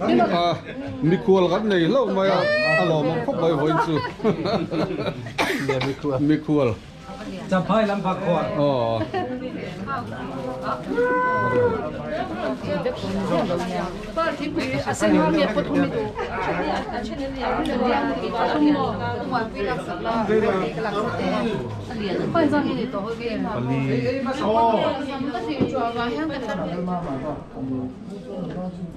A mikhual kan nei hlauh mai a, a lawm ang khawp mai vawiin chu mikhual Chaphai lam pha khual aw Pali.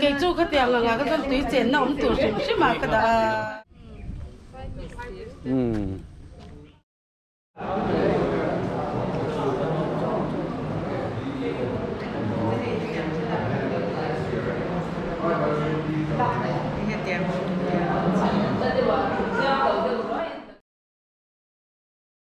Kei chu khatiang ang ah ka zawn tui chenna awm tur hrim hrim ah ka dah a.